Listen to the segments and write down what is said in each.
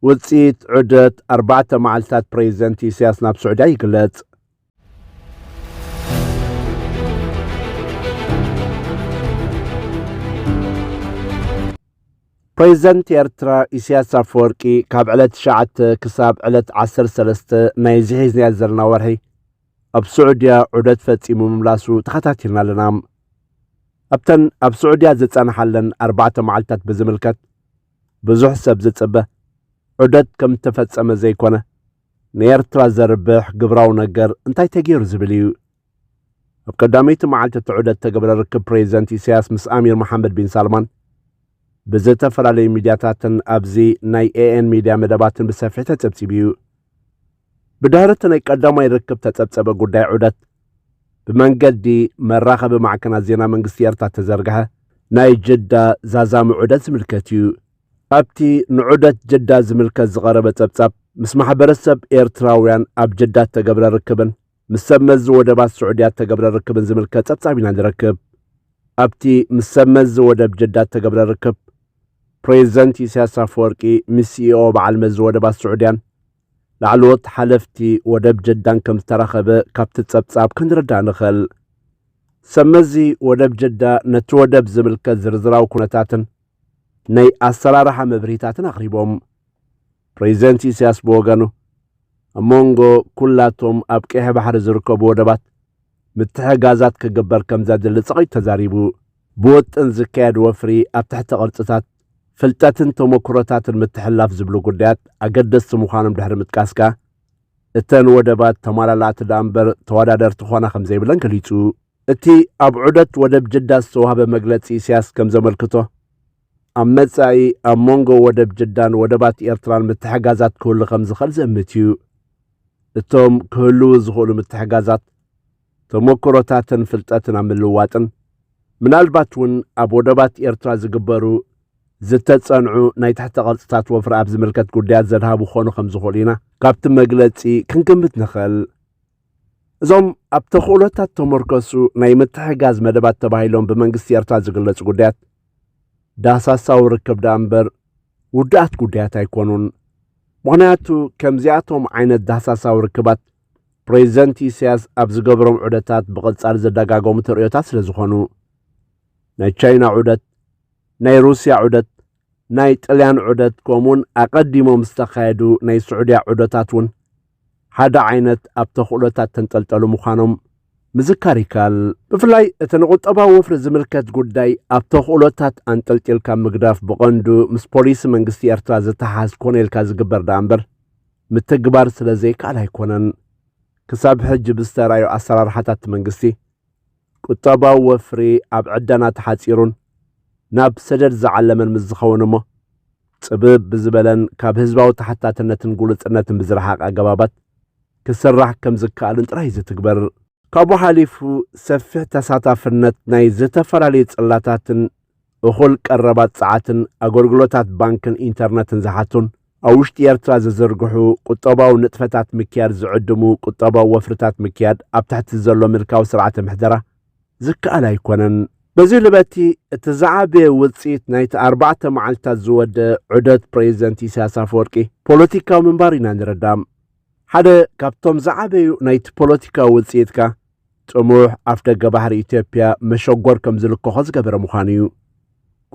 ውጽኢት ዑደት ኣርባዕተ መዓልታት ፕረዚደንት ኢሳያስ ናብ ስዑድያ ይግለጽ። ፕረዚደንት ኤርትራ ኢሳያስ ኣፈወርቂ ካብ ዕለት ትሽዓተ ክሳብ ዕለት ዓሰርተ ሰለስተ ናይ እዚ ሒዝናዮ ዘለና ወርሒ ኣብ ስዑድያ ዑደት ፈጺሙ ምምላሱ ተኸታቲልና ኣለና። ኣብተን ኣብ ስዑድያ ዝጸንሓለን ኣርባዕተ መዓልታት ብዝምልከት ብዙሕ ሰብ ዝጽበ ዑደት ከም እተፈጸመ ዘይኮነ፣ ንኤርትራ ዘርብሕ ግብራዊ ነገር እንታይ ተገይሩ ዝብል እዩ። ኣብ ቀዳመይቲ መዓልቲ እቲ ዑደት እተገብረ ርክብ ፕሬዚደንት ኢሳያስ ምስ ኣሚር መሓመድ ቢን ሳልማን ብዝተፈላለዩ ሚድያታትን ኣብዚ ናይ ኤኤን ሚድያ መደባትን ብሰፊሕ ተጸብጺቡ እዩ። ብድሕሪ እቲ ናይ ቀዳማይ ርክብ ተጸብጸበ ጉዳይ ዑደት ብመንገዲ መራኸቢ ማዕከናት ዜና መንግስቲ ኤርትራ እተዘርግሐ ናይ ጅዳ ዛዛሚ ዑደት ዝምልከት እዩ። ኣብቲ ንዑደት ጅዳ ዝምልከት ዝቐረበ ጸብጻብ፣ ምስ ማሕበረሰብ ኤርትራውያን ኣብ ጅዳ እተገብረ ርክብን ምስ ሰብ መዚ ወደባት ስዑድያ እተገብረ ርክብን ዝምልከት ጸብጻብ ኢና ንረክብ። ኣብቲ ምስ ሰብ መዚ ወደብ ጅዳ እተገብረ ርክብ፣ ፕሬዚደንት ኢሳያስ ኣፈወርቂ ምስ ሲኢኦ በዓል መዚ ወደባት ስዑድያን ላዕለዎት ሓለፍቲ ወደብ ጀዳን ከም ዝተራኸበ ካብቲ ጸብጻብ ክንርዳእ ንኽእል። ሰብ መዚ ወደብ ጀዳ ነቲ ወደብ ዝምልከት ዝርዝራዊ ኩነታትን ናይ ኣሰራርሓ መብርሂታትን ኣቕሪቦም። ፕሬዚደንት ኢሳያስ ብወገኑ ኣብ መንጎ ኩላቶም ኣብ ቀይሕ ባሕሪ ዝርከቡ ወደባት ምትሕጋዛት ክግበር ከም ዘድሊ ጸቒጡ ተዛሪቡ። ብወጥን ዝካየድ ወፍሪ ኣብ ትሕተ ቅርጽታት ፍልጠትን ተሞክሮታትን ምትሕልላፍ ዝብሉ ጉዳያት ኣገደስቲ ምዃኖም ድሕሪ ምጥቃስካ፣ እተን ወደባት ተማላላእቲ ደኣ እምበር ተወዳደርቲ ክኾና ከምዘይብለን ገሊጹ። እቲ ኣብ ዑደት ወደብ ጅዳ ዝተዋህበ መግለጺ ኢሳያስ ከምዘመልክቶ፣ ኣብ መጻኢ ኣብ መንጎ ወደብ ጅዳን ወደባት ኤርትራን ምትሕጋዛት ክህሉ ከምዝኽእል ዝእምት እዩ። እቶም ክህልዉ ዝኽእሉ ምትሕጋዛት፣ ተሞክሮታትን ፍልጠትን ኣብ ምልዋጥን ምናልባት እውን ኣብ ወደባት ኤርትራ ዝግበሩ ዝተጸንዑ ናይ ትሕተ ቅርጽታት ወፍሪ ኣብ ዝምልከት ጉዳያት ዘድሃቡ ክኾኑ ከም ዝኽእሉ ኢና ካብቲ መግለጺ ክንግምት ንኽእል። እዞም ኣብ ተኽእሎታት ተመርከሱ ናይ ምትሕጋዝ መደባት ተባሂሎም ብመንግስቲ ኤርትራ ዝግለጹ ጉዳያት ዳሳሳዊ ርክብ ደኣ እምበር ውዱኣት ጉዳያት ኣይኮኑን። ምኽንያቱ ከምዚኣቶም ዓይነት ዳሳሳዊ ርክባት ፕሬዚደንት ኢሳያስ ኣብ ዝገብሮም ዑደታት ብቐጻሊ ዘደጋገሙ ተርእዮታት ስለ ዝኾኑ ናይ ቻይና ዑደት፣ ናይ ሩስያ ዑደት፣ ናይ ጥልያን ዑደት ከምኡውን ኣቐዲሞም ዝተኻየዱ ናይ ስዑድያ ዑደታት እውን ሓደ ዓይነት ኣብ ተኽእሎታት ተንጠልጠሉ ምዃኖም ምዝካር ይከኣል። ብፍላይ እቲ ንቁጠባዊ ወፍሪ ዝምልከት ጉዳይ ኣብ ተኽእሎታት ኣንጠልጢልካ ምግዳፍ ብቐንዱ ምስ ፖሊሲ መንግስቲ ኤርትራ ዝተሓሓዝ ኮነ ኢልካ ዝግበር ደኣ እምበር ምትግባር ስለ ዘይከኣል ኣይኮነን። ክሳብ ሕጂ ብዝተራእዩ ኣሰራርሓታት'ቲ መንግስቲ፣ ቁጠባዊ ወፍሪ ኣብ ዕደና ተሓጺሩን ናብ ሰደድ ዝዓለመን ምስ ዝኸውን'ሞ፣ ጽብብ ብዝበለን ካብ ህዝባዊ ተሓታትነትን ግሉጽነትን ብዝረሓቐ ኣገባባት ክስራሕ ከም ዝከኣልን ጥራይ'ዩ ዝትግበር። ካብኡ ሓሊፉ ሰፊሕ ተሳታፍነት ናይ ዝተፈላለዩ ጽላታትን እኹል ቀረባት ጸዓትን ኣገልግሎታት ባንክን ኢንተርነትን ዝሓቱን ኣብ ውሽጢ ኤርትራ ዝዝርግሑ ቁጠባዊ ንጥፈታት ምክያድ ዝዕድሙ ቁጠባዊ ወፍርታት ምክያድ ኣብ ትሕቲ ዘሎ ምልካዊ ስርዓተ ምሕደራ ዝከኣል ኣይኮነን። በዚ ልበቲ እቲ ዝዓበየ ውጽኢት ናይቲ ኣርባዕተ መዓልትታት ዝወደ ዑደት ፕረዚደንት ኢሳያስ ኣፈወርቂ ፖለቲካዊ ምንባር ኢና ንርዳም። ሓደ ካብቶም ዝዓበዩ ናይቲ ፖለቲካዊ ውጽኢት ከኣ ጥሙሕ ኣፍደገ ባሕሪ ኢትዮጵያ መሸጎር ከም ዝልከኾ ዝገበረ ምዃኑ እዩ።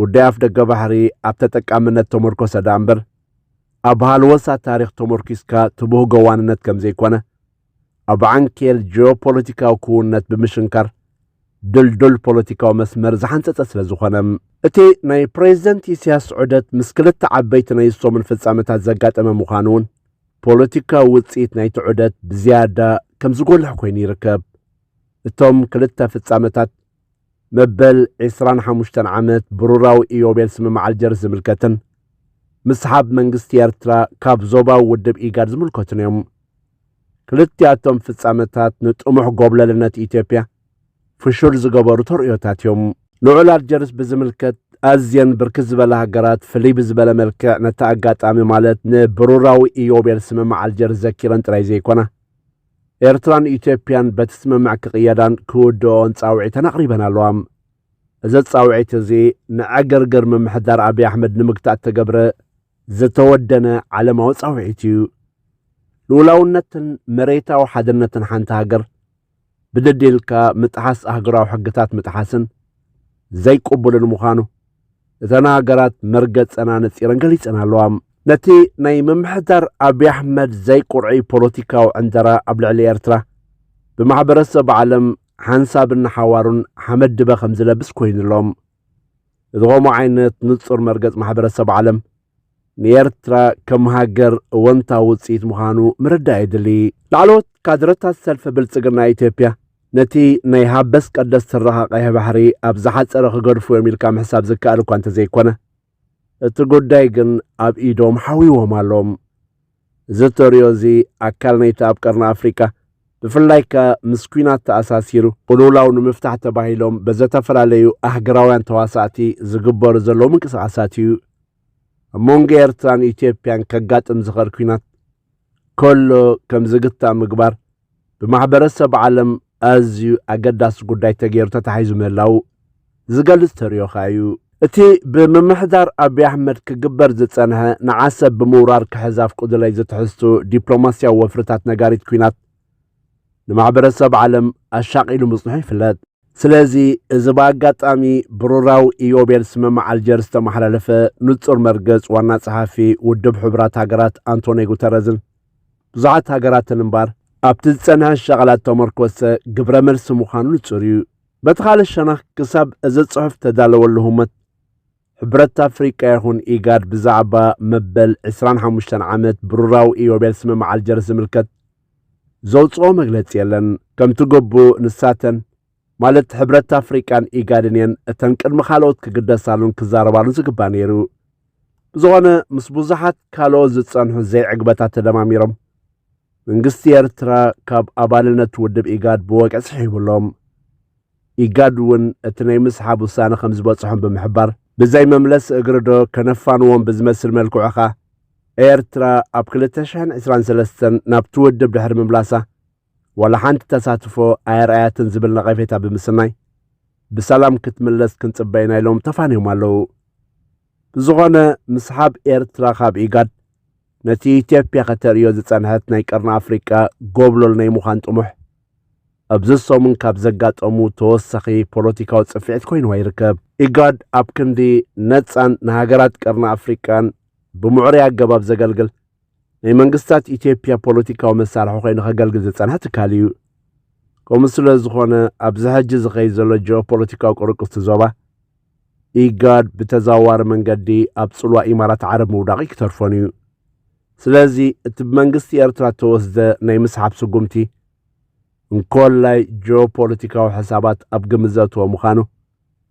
ጉዳይ ኣፍደገ ባሕሪ ኣብ ተጠቃምነት ተመርኮሰ ደኣ እምበር ኣብ ሃልወሳ ታሪኽ ተመርኪስካ ትብህጎ ዋንነት ከም ዘይኮነ ኣብ ዓንኬል ጂኦፖለቲካዊ ክውነት ብምሽንካር ድልዱል ፖለቲካዊ መስመር ዝሓንጸጸ ስለ ዝኾነ እቲ ናይ ፕሬዚደንት ኢሳያስ ዑደት ምስ ክልተ ዓበይቲ ናይ ሰሙን ፍጻመታት ዘጋጠመ ምዃኑ እውን ፖለቲካዊ ውጽኢት ናይቲ ዑደት ብዝያዳ ከም ዝጎልሕ ኮይኑ ይርከብ። እቶም ክልተ ፍጻመታት መበል ዕስራን ሓሙሽተን ዓመት ብሩራዊ ኢዮቤል ስምምዕ ኣልጀርስ ዝምልከትን ምስሓብ መንግስቲ ኤርትራ ካብ ዞባዊ ውድብ ኢጋድ ዝምልከቱን እዮም። ክልቲኣቶም ፍጻመታት ንጥሙሕ ጎብለልነት ኢትዮጵያ ፍሹል ዝገበሩ ተርእዮታት እዮም። ንውዕል ኣልጀርስ ብዝምልከት ኣዝየን ብርክት ዝበላ ሃገራት ፍልይ ብዝበለ መልክዕ ነቲ ኣጋጣሚ ማለት ንብሩራዊ ኢዮቤል ስምምዕ ኣልጀርስ ዘኪረን ጥራይ ዘይኮና ኤርትራን ኢትዮጵያን በቲ ስምምዕ ክቕየዳን ክውድኦን ጻውዒተን ኣቕሪበን ኣለዋ። እዚ ጻውዒት እዚ ንዕግርግር ምምሕዳር ኣብዪ ኣሕመድ ንምግታእ እተገብረ ዝተወደነ ዓለማዊ ጻውዒት እዩ። ልኡላውነትን መሬታዊ ሓድነትን ሓንቲ ሃገር ብደዴልካ ምጥሓስ ኣህጉራዊ ሕግታት ምጥሓስን ዘይቅቡልን ምዃኑ እተን ሃገራት መርገጸን ኣነጺረን ገሊጸን ኣለዋ። ነቲ ናይ ምምሕዳር ኣብዪ ኣሕመድ ዘይቁርዒ ፖለቲካዊ ዕንደራ ኣብ ልዕሊ ኤርትራ ብማሕበረሰብ ዓለም ሓንሳብን ንሓዋሩን ሓመድ ድበ ከም ዝለብስ ኮይኑ ኣሎ። እዚ ከምኡ ዓይነት ንጹር መርገጽ ማሕበረሰብ ዓለም ንኤርትራ ከም ሃገር እወንታ ውፅኢት ምዃኑ ምርዳእ የድሊ። ላዕለዎት ካድረታት ሰልፊ ብልፅግና ኢትዮጵያ ነቲ ናይ ሃበስ ቀደስ ትረኻ ቀይሕ ባሕሪ ኣብ ዝሓፀረ ክገድፉ እዮም ኢልካ ምሕሳብ ዝከኣል እኳ እንተዘይኮነ እቲ ጉዳይ ግን ኣብ ኢዶም ሓዊዎም ኣሎ። እዚ እተርእዮ እዚ ኣካል ናይቲ ኣብ ቀርኒ ኣፍሪቃ ብፍላይ ከኣ ምስ ኲናት ተኣሳሲሩ ቅልውላው ንምፍታሕ ተባሂሎም በዘተፈላለዩ ኣህግራውያን ተዋሳእቲ ዝግበሩ ዘለዉ ምንቅስቓሳት እዩ። ኣብ መንጎ ኤርትራን ኢትዮጵያን ከጋጥም ዝኽእል ኲናት ከሎ ከም ዝግታእ ምግባር ብማሕበረሰብ ዓለም ኣዝዩ ኣገዳሲ ጉዳይ ተገይሩ ተታሒዙ ምህላዉ ዝገልጽ ተርእዮ ከኣ እዩ። እቲ ብምምሕዳር ኣቢይ ኣሕመድ ክግበር ዝጸንሐ ንዓሰብ ብምውራር ክሕዝ ኣፍቅዱለይ ዝትሕዝትኡ ዲፕሎማስያዊ ወፍርታት ነጋሪት ኲናት ንማሕበረሰብ ዓለም ኣሻቒሉ ምጽንሑ ይፍለጥ። ስለዚ እዚ ብኣጋጣሚ ብሩራዊ ኢዮቤል ስምምዕ ኣልጀርስ ዝተመሓላለፈ ንጹር መርገጽ ዋና ጸሓፊ ውድብ ሕቡራት ሃገራት ኣንቶንዮ ጉተረዝን ብዙሓት ሃገራትን እምባር ኣብቲ ዝጸንሐ ሸቐላት ተመርኮሰ ግብረ መልሲ ምዃኑ ንጹር እዩ። በቲ ካልእ ሸነኽ ክሳብ እዚ ጽሑፍ ተዳለወሉ ህሞት ሕብረት ኣፍሪቃ ይኹን ኢጋድ ብዛዕባ መበል 25 ዓመት ብሩራዊ ኢዮቤል ስምምዕ ኣልጀርስ ዝምልከት ዘውፅኦ መግለፂ የለን ከምቲ ግቡእ ንሳተን ማለት ሕብረት ኣፍሪቃን ኢጋድን እየን እተን ቅድሚ ካልኦት ክግደሳሉን ክዛረባሉን ዝግባ ነይሩ ብዝኾነ ምስ ብዙሓት ካልኦት ዝጸንሑ ዘይዕግበታት ተደማሚሮም መንግስቲ ኤርትራ ካብ ኣባልነት ውድብ ኢጋድ ብወግዒ ስሒቡሎም ኢጋድ እውን እቲ ናይ ምስሓብ ውሳነ ከም ዝበጽሖም ብምሕባር ብዘይ መምለስ እግሪ ዶ ከነፋንዎም ብዝመስል መልክዑ ኸኣ ኤርትራ ኣብ 2023 ናብቲ ውድብ ድሕሪ ምምላሳ ዋላ ሓንቲ ተሳትፎ ኣየርኣያትን ዝብል ነቐፌታ ብምስናይ ብሰላም ክትምለስ ክንጽበ ኢና ኢሎም ተፋንዮም ኣለዉ። ብዝኾነ ምስሓብ ኤርትራ ካብ ኢጋድ ነቲ ኢትዮጵያ ከተርእዮ ዝጸንሐት ናይ ቀርኒ ኣፍሪቃ ጎብለል ናይ ምዃን ጥሙሕ ኣብዚ ሰሙን ካብ ዘጋጠሙ ተወሳኺ ፖለቲካዊ ጽፍዒት ኮይንዋ ይርከብ። ኢጋድ ኣብ ክንዲ ነጻን ንሃገራት ቀርኒ ኣፍሪቃን ብምዕሩይ ኣገባብ ዘገልግል ናይ መንግስታት ኢትዮጵያ ፖለቲካዊ መሳርሒ ኮይኑ ከገልግል ዝጸንሐ ትካል እዩ። ከምኡ ስለ ዝኾነ ኣብዚ ሕጂ ዝኸይድ ዘሎ ጂኦፖለቲካዊ ቅርቅስቲ ዞባ ኢጋድ ብተዘዋዋሪ መንገዲ ኣብ ጽልዋ ኢማራት ዓረብ ምውዳቕ ይክተርፎን እዩ። ስለዚ እቲ ብመንግስቲ ኤርትራ እተወስደ ናይ ምስሓብ ስጉምቲ እንኮላይ ጂኦፖለቲካዊ ሕሳባት ኣብ ግምት ዘእተወ ምዃኑ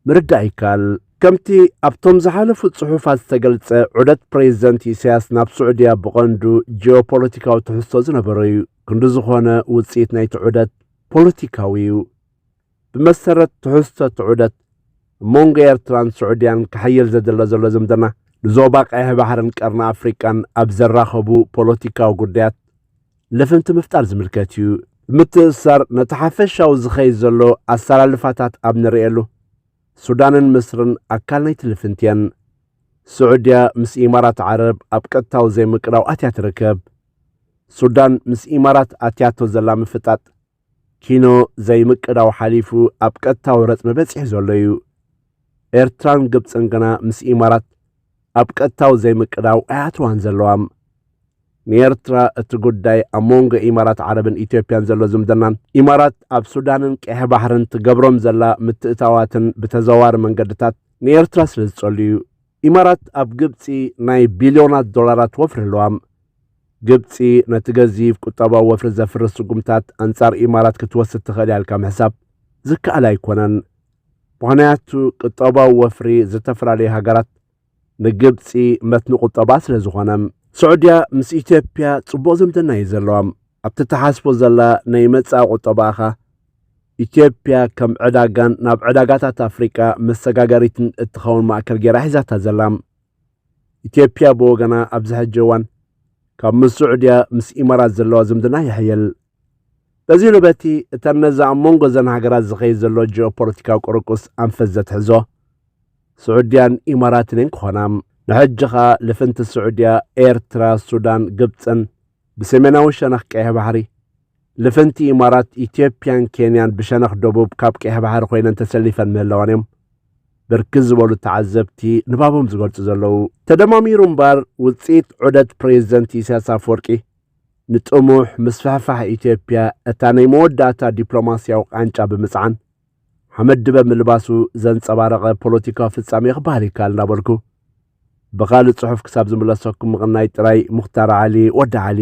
ምርዳእ ይከኣል። ከምቲ ኣብቶም ዝሓለፉ ጽሑፋት ዝተገልጸ ዑደት ፕሬዚደንት ኢሳያስ ናብ ስዑድያ ብቐንዱ ጂኦፖለቲካዊ ትሕዝቶ ዝነበሮ እዩ። ክንዲ ዝኾነ ውጽኢት ናይቲ ዑደት ፖለቲካዊ እዩ። ብመሰረት ትሕዝቶ እቲ ዑደት፣ ኣብ መንጎ ኤርትራን ስዑድያን ክሕይል ዘድለ ዘሎ ዝምድና፣ ንዞባ ቀይሕ ባሕርን ቀርኒ ኣፍሪቃን ኣብ ዘራኸቡ ፖለቲካዊ ጉዳያት ልፍንቲ ምፍጣር ዝምልከት እዩ። ብምትእስሳር ነቲ ሓፈሻዊ ዝኸይድ ዘሎ ኣሰላልፋታት ኣብ ንርእየሉ፣ ሱዳንን ምስርን ኣካል ናይቲ ልፍንቲ እየን። ስዑድያ ምስ ኢማራት ዓረብ ኣብ ቀጥታዊ ዘይምቅራው ኣትያ ትርከብ። ሱዳን ምስ ኢማራት ኣትያቶ ዘላ ምፍጣጥ፣ ኪኖ ዘይምቅዳው ሓሊፉ ኣብ ቀጥታዊ ረጽሚ በጺሑ ዘሎ እዩ። ኤርትራን ግብጽን ግና ምስ ኢማራት ኣብ ቀጥታዊ ዘይምቅዳው ኣያትዋን ዘለዋም። ንኤርትራ እቲ ጉዳይ ኣብ መንጎ ኢማራት ዓረብን ኢትዮጵያን ዘሎ ዝምድናን ኢማራት ኣብ ሱዳንን ቀይሕ ባሕርን ትገብሮም ዘላ ምትእታዋትን ብተዘዋሪ መንገድታት ንኤርትራ ስለ ዝጸሉ እዩ። ኢማራት ኣብ ግብፂ ናይ ቢልዮናት ዶላራት ወፍሪ ኣለዋም። ግብፂ ነቲ ገዚፍ ቁጠባዊ ወፍሪ ዘፍርስ ስጉምታት ኣንፃር ኢማራት ክትወስድ ትኽእል እያ ኢልካ ምሕሳብ ዝከኣል ኣይኮነን። ምኽንያቱ ቁጠባዊ ወፍሪ ዝተፈላለዩ ሃገራት ንግብፂ መትኒ ቁጠባ ስለዝኾነ። ስዑድያ ምስ ኢትዮጵያ ፅቡቕ ዝምድና እዩ ዘለዋም። ኣብቲ ትሓስቦ ዘላ ናይ መጻኢ ቁጠባኻ፣ ኢትዮጵያ ከም ዕዳጋን ናብ ዕዳጋታት ኣፍሪቃ መሰጋገሪትን እትኸውን ማእከል ገይራ ሒዛታ ዘላ። ኢትዮጵያ ብወገና ኣብዚ ሕጂ እዋን ካብ ምስ ስዑድያ ምስ ኢማራት ዘለዋ ዝምድና የሕይል። በዚ ርበቲ እተን ነዚ ኣብ መንጎ እዘን ሃገራት ዝኸይድ ዘሎ ጂኦፖለቲካዊ ቁርቁስ ኣንፈት ዘትሕዞ ስዑድያን ኢማራትን እየን ክኾና። ንሕጂ ከኣ ልፍንቲ ስዑድያ፣ ኤርትራ፣ ሱዳን፣ ግብጽን ብሰሜናዊ ሸነኽ ቀይሕ ባሕሪ፣ ልፍንቲ ኢማራት፣ ኢትዮጵያን ኬንያን ብሸነኽ ደቡብ ካብ ቀይሕ ባሕሪ ኮይነን ተሰሊፈን ምህላወን እዮም ብርክት ዝበሉ ተዓዘብቲ ንባቦም ዝገልጹ ዘለዉ። ተደማሚሩ እምበኣር ውጽኢት ዑደት ፕሬዚደንት ኢሳያስ ኣፈወርቂ ንጥሙሕ ምስፍሕፋሕ ኢትዮጵያ እታ ናይ መወዳእታ ዲፕሎማሲያዊ ቃንጫ ብምጽዓን፣ ሓመድ ድበ ምልባሱ ዘንጸባረቐ ፖለቲካዊ ፍጻሜ ክበሃል ይከኣል እናበልኩ ብኻልእ ጽሑፍ ክሳብ ዝምለሰኩም ምቕናይ ጥራይ ሙኽታር ዓሊ ወዲ ዓሊ